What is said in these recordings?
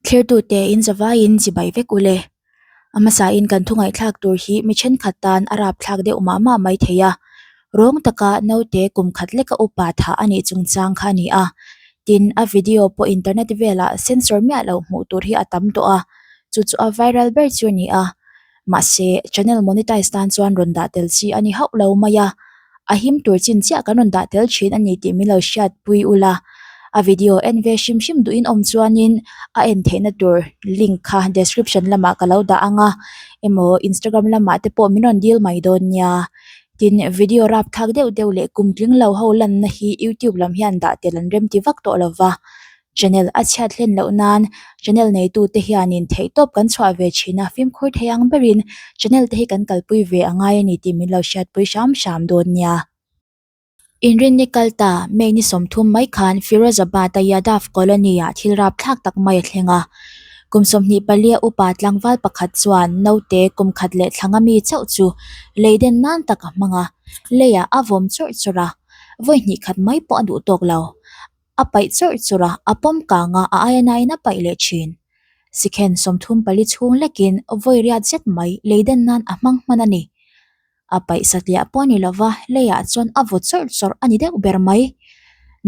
Thlertute in zavaiin zibai vek u le. A hmasahin kan thungaihthlak tur hi mi thenkhat tan a rapthlak deuh mah mah mai thei a. Rawng taka naute kum khat leka upa thah a nih chungchang kha a ni a. Tin, a video pawh internet velah censor miah loh hmuh tur hi a tam tawh a, chu chu a viral ber chu a ni a. Mahse, channel monetize tan chuan rawn dah tel chi a ni hauh lo mai a. A him tur chin chiah kan rawn dah tel thin a ni tih min lo hriat pui u la. A video en ve hrim hrim duhin awm chuanin a en theihna tur link kha description lamah ka lo dah ang a, emaw Instagram lamah te pawh min rawn dil mai dawn nia. Tin, video rap thlak deuh deuh leh kum tling lo ho lanna hi YouTube lam hian dah tel an rem ti vak tawh lo va. Channel a chhiat hlen loh nan channel neitu te hianin theihtawp kan chhuah ve thin a fimkhur thei ang berin channel te hi kan kalpui ve a ngai ani tih min lo hriatpui hram hram dawn nia. Inrinni kal ta May ni sawmthum mai khan Firozabad a Yadav Colony ah thil rapthlak tak mai a thleng a. Kum sawmhnih palia upa tlangval pakhat chuan naute kum khat leh thlanga mi chauh chu lei den nan tak a hmang a, leiah a vawm chawrh chawrh a, vawi hnih khat mai pawh a duh tawk lo. A paih chawrh chawrh a, a pawm kang a, a aia naiin a paih leh thin. Sikhen sawmthum pali chhung lekin vawiriat zet mai leidan nan a hmang hman a ni. A paih satliah pawh a ni lova, leiah chuan a vaw chawrh chawrh a ni deuh ber mai.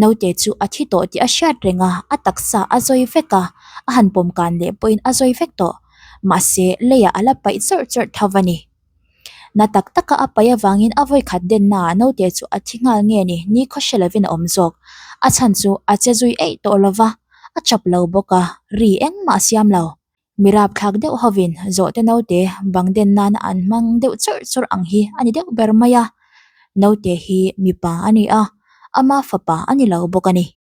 Naute chu a thi tawh tih a hriat reng a, a taksa a zawi vek a, a han pawm kan leh pawhin a zawi vek tawh. Mahse, leiah a la paih chawrh chawrh tho a ni. Na tak taka a paih avangin a vawi khat denna ah naute chu a thi nghal nge ni? Ni khaw hre lovin a awm zawk. A chhan chu a che zui eih tawh lo va, a chap lo bawk a, ri engmah a siam lo. Mi rapthlak deuh hovin zawhte naute bang den nana an hmang deuh chawrh chawrh ang hi a ni deuh ber mai a. Naute hi mipa a ni a, ama fapa a ni lo bawk a ni.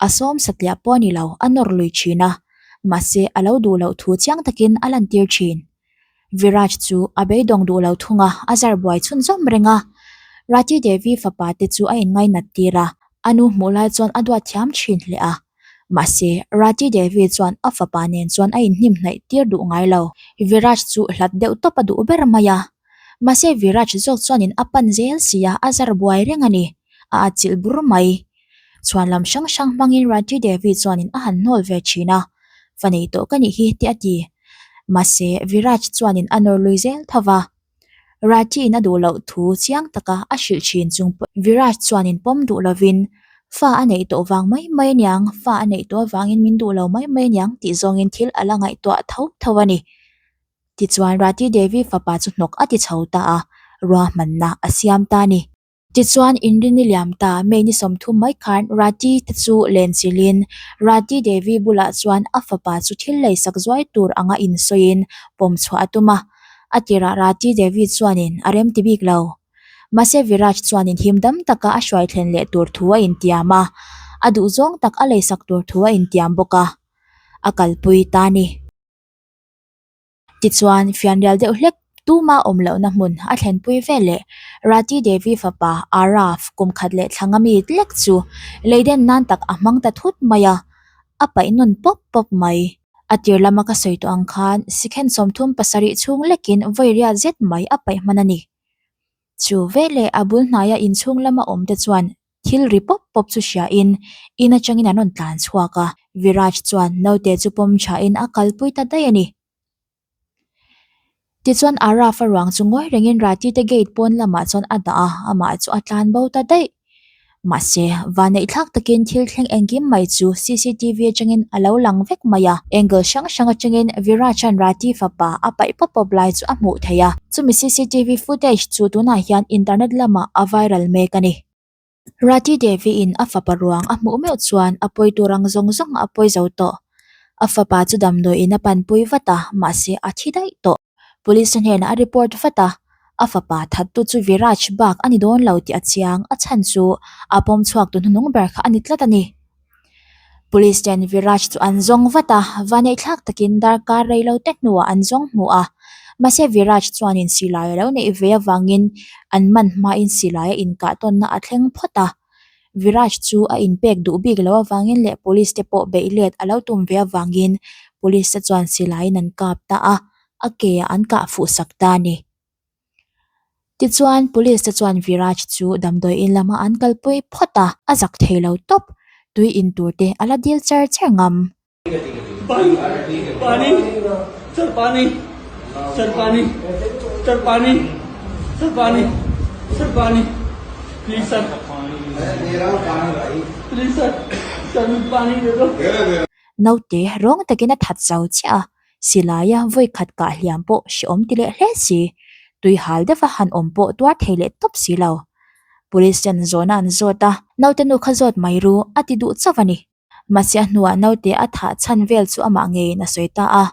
A sawm satliah pawh a ni lo, a nawr lui thin a. Mahse, a lo duh loh thu chiang takin a lantir thin. Viraj chu a beidawng duh lo thunga a zar buai chhun zawm reng a. Rati Devi fapa te chu a inngainat tir a, a nu hmuh lai chuan a duat thiam thin hle a. Mahse, Rati Devi chuan a fapa nen chuan a inhnim hnaih tir duh ngai lo. Viraj chu hlat deuh tawp a duh ber mai a. Mahse Viraj zawk chuanin a pan zel si a, a zar buai reng a ni. A a chilh bur mai. Chhuan lam hrang hrang hmangin Ranjit Devi chuanin a han hnawl ve thin a, va nei tawh ka nih hi tih a ti. Mahse Viraj chuanin a nawr lui zel tho va. Ranjit in a duh loh thu chiang taka a hrilh thin chung pawh Viraj chuanin pawm duh lovin, Fa a neih tawh vang mai mai niang, fa a neih tawh avangin min duh lo mai mai niang tih zawngin thil a la ngaihtuah tho tho a ni. Tichuan, Rati Devi fapa chu hnawk a ti chho ta a, ruahmanna a siam ta a ni. Tichuan, in rini liam ta, May ni sawmthum mai khan Rati te chu len chilhin, Rati Devi bulah chuan a fapa chu thil lei sak zuai tur anga insawiin pawm chhuah a tum a. A tirah Rati Devi chuanin a remti bik lo. Mahse, Viraj chuanin him dam taka a hruai thlen leh tur thu a intiam a, a duh zawng tak a lei sak tur thu a intiam bawk a, a kalpui ta a ni. Tichuan, fianrial deuh hlek tuma awm lohna hmun a thlenpui veleh Rati Devi fapa Araf kumkhat leh thlanga mi tlek chu Leiden nan tak a hmang ta thut mai a, a paih nawn pawp pawp mai. A tir lama ka sawi tawh ang khan sikhen sawmthum pasarih chhung lekin vawiria zet mai a paih hman a ni. Chu veleh a bul hnaia inchhung lama awmte chuan Thil ri pawp pawp chu hria in in atangin an rawn tlan chhuak a, Viraj chuan naute chu pawm tha in a kalpui ta daih a ni. Tichuan Arav a ruang chu ngawi rengin Ratite gate pawn lamah chuan a dah a, amah chu a tlan bo ta daih. Mahse, vanneih thlak takin thil thleng engkim mai chu CCTV atangin a lo lang vek mai a, angle hrang hrang atangin Viraj-a'n Rati fapa a paih pawp pawp lai chu a hmuh theih a. Chumi CCTV footage chu tunah hian internet lamah a viral mek a ni. Rati Devi-in a fapa ruang a hmuh meuh chuan a pawi tur ang zawng zawng a pawi zo tawh. A fapa chu damdawiin a panpui vat a, mahse a thi daih tawh. Police-a hnenah a report vat a, a fapa thattu chu Viraj bak a ni dawn lo tih a chiang. A chhan chu a pawm chhuak tu hnunung ber kha a ni tlat a ni. Police te an Viraj chu an zawng vat a, vanei thlak takin darkar rei lo te hnuah an zawng hmu a. Mahse Viraj chuanin silai a lo neih ve avangin an man hmain silai a inkah tawnna a thleng phawt a. Viraj chu a inpek duh bik lo avangin leh Police te pawh beih let a lo tum ve avangin Police te chuan silaiin an kap ta a, a ke ah an kah fuhsak ta a ni. Tichuan, police te chuan Viraj chu damdawiin lam a an kal pui phawt a, a zak thei lo tawp. Tui in tur te a la dil cher cher ngam. Naute rawng takin a that chau chiah a. silaia vawikhat kah hliam pawh hre awm ti leh hle si, tui hal deuha han awm pawh tuar thei leh tawp si lo. Police hian zawhna an zawt a. Naute nu kha zawt mai ru, a ti duh chauh a ni. Mahse a hnuah naute a thah chhan vel chu amah ngeiin a sawi ta a.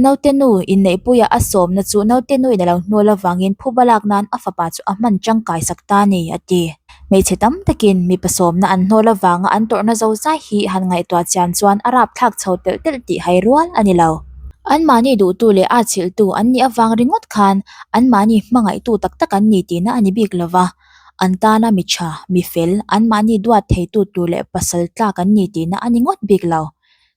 Naute nu inneihpuia a sawmna chu naute nu in a lo hnual avangin phuba lak nan a fapa chu a hman tangkai sak ta a ni, a ti. hmeichhe tam takin mipa sawmna an hnawl avanga an tawrhna zo zai hi han ngaihtuah chian chuan a rapthlak chho telh telh tih hai rual a ni lo an mahni duhtu leh a chhilhtu an nih avang ringawt khan an mahni hmangaihtu tak tak an ni tihna a ni bik lo va an tana mi tha mi fel an mahni duat theitu tur leh pasal tlak an ni tihna a ni ngawt bik lo.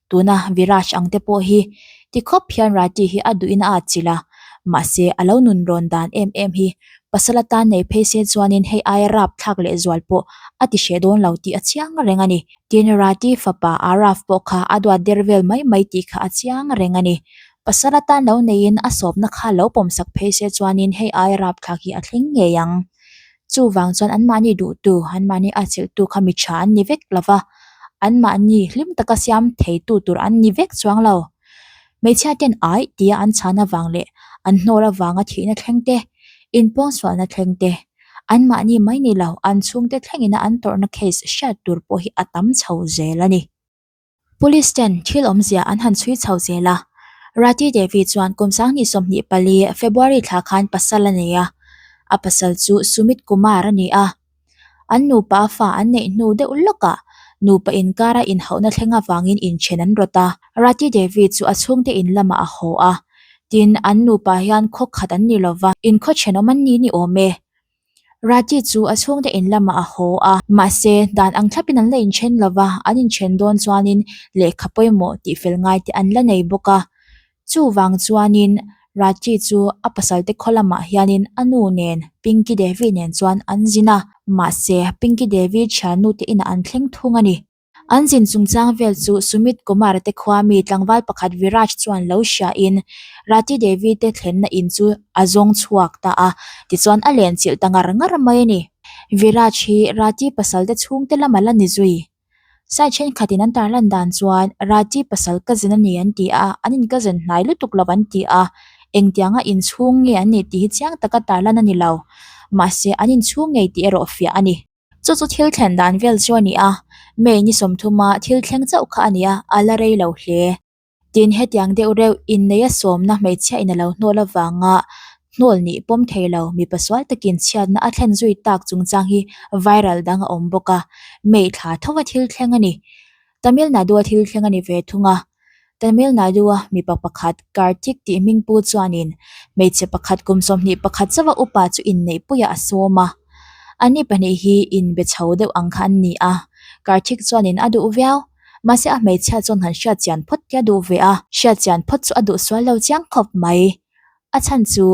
Tuna Viraj ang te pawh hi ti khawp hian Rati hi a duhina a chilh a, mahse a lo nun rawn dan em em hi pasal atan nei phei se chuanin hei aia rap thlak lehzual pawh a ti hreh dawn lo tih a chiang a reng a ni. Tin, Rati fapa Arav pawh kha a duat der vel mai mai tih kha a chiang a reng a ni. Pasal atan lo neiin a sawpna kha lo pawmsak phei se chuanin hei aia rap thlak hi a thleng ngei ang. Chuvang chuan anmahni duhtu, anmahni a chilhtu kha mi tha an ni vek lo va, anmahni hlim taka siam theitu tur an ni vek chuang lo. Hmeichhia ten aih tia an chhana vang leh an hnawr avanga thihna thleng te, inpawngsualna thleng te, anmahni mai ni lo an chhungte thlengin a an tawrhna case hriat tur pawh hi a tam chho zel a ni. Police ten thil awmzia an han chhui chho zel a. Rati Devi chuan kum sanghnih sawmhnih pali, February, thla khan pasal a nei a, a pasal chu Sumit Kumar a ni a. An nupa fa an neih hnu deuh lawkah nupa inkara inhauhna thleng avangin inthen an rawt a. Rati Devi chu a chhungte in lamah a haw a, tin an nupa hian khaw khat an ni lo va, in khaw chhenawm an ni ni awm e. Rati chu a chhungte in lamah a haw a, mahse, dan ang thlapin an la inthen lo va, an inthen dawn chuanin lehkha pawimawh tihfel ngai te an la nei bawk a. Chuvang chuanin Rati chu a pasalte khaw lamah hianin a nu nen Pinky Devi nen chuan an zin a, mahse, Pinky Devi thiannu te inah an thleng thung a ni. An zin chungchang vel chu Sumit Kumar te khua mi tlangval pakhat Viraj chuan lo hria in Rati Devi te thlenna in chu a zawng chhuak ta a, tichuan a len chilh ta ngar ngar mai a ni. Viraj hi Rati pasalte chhungte lam a la ni zui. Sai thenkhatin an tarlan dan chuan Rati pasal ka zin a ni an ti a, an inkazen hnai lutuk lo an ti a, engtianga inchhung nge an nih tih hi chiang taka tarlan a ni lo. Mahse an inchhung ngei tih erawh fiah a ni. Chu chu thil thlen dan vel chu a ni a, May ni sawmthuma thil thleng chauh kha a nia, a la rei lo hle. Tin, hetiang deuh reuh inneia sawmna hmeichhia in a lo hnawl avanga hnawl nih pawm thei lo mipa sual takin chhiatna a thlen zui tak chungchang hi viral dang a awm bawk a, May thla thova thil thleng a ni. Tamil Nadu-a thil thleng a ni ve thung a. Tamil Nadu-a mipa pakhat, Karthik tih hming pu chuanin hmeichhe pakhat kum sawmhnih pakhat zauha upa chu inneih puiah a sawm a. Ani pahnih hi in be chho deuh ang kha an ni a. Karthik chuanin a duh viau. Mahse a hmeichhia chuan han hriatchian phawt te a duh ve a. Hriatchian phawt chu a duh sual lo chiang khawp mai. A chhan chu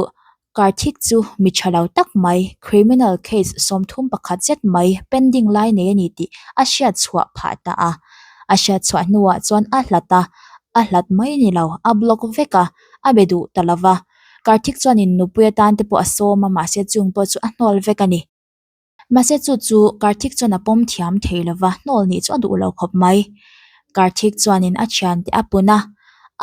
Karthik chu mi tha lo tak mai, criminal case sawmthum pakhat zet mai pending lai nei a ni tih a hriatchhuah phah ta a. A hriatchhuah hnuah chuan a hlat a, a hlat mai ni lo, a block vek a, a be duh ta lova. Karthik chuanin nupui atante pawh a sawm a, mahse chung pawh chu a hnawl vek a ni. Mahse chu chu Karthik chuan a pawm thiam thei lo va, hnawl nih chu a duh lo khawp mai. Karthik chuanin a thian te a pun a,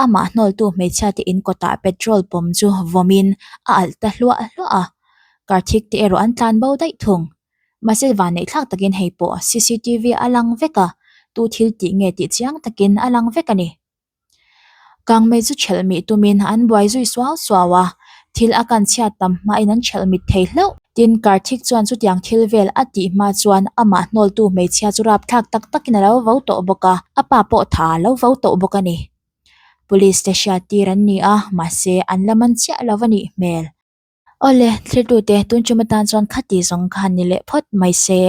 amah hnawltu hmeichhia te in kawtah petrol pawm chu vawmin a alh ta hluah hluah a, Karthik te erawh an tlan bo daih thung. Mahse vanneih thlak takin hei pawh cctv a lang vek a, tu thil tih nge tih chiang takin a lang vek a ni. Kang mei chu chhelh mih tumin an buai zui suau suau a, thil a kan chhiat tam hmain an chhelh mit thei hlauh. Tin, Karthik chuan chutiang thil vel a tih hma chuan amah hnawltu hmeichhia chu rap thlak tak takin a lo vo tawh bawk a, a pa pawh tha a lo vo tawh bawk a ni. Police te hriattir an ni a, mahse an la man chiah lo a nih hmel. Aw le, thlertute, tun chuma tan chuan khati zawng kha ni leh phawt mai se.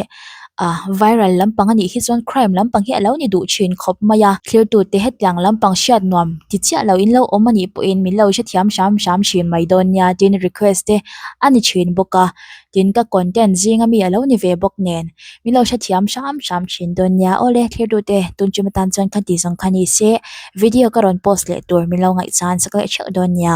Ah, viral lampang a nih hi chuan crime lampang hi a lo ni duh thin khawp mai a. Thlertute, hetiang lampang hriat nuam ti chiah loh in lo awm a nih pawhin min lo hrethiam hram hram thin mai dawn nia tin request te a ni thin bawk a. Tin, ka content zing a mi a lo ni ve bawk nen min lo hrethiam hram hram thin dawn nia. Aw le, thlertute, tun chuma tan chuan khati zawng kha ni se. Video ka rawn post leh tur min lo ngaihchhan sak leh theuh dawn nia.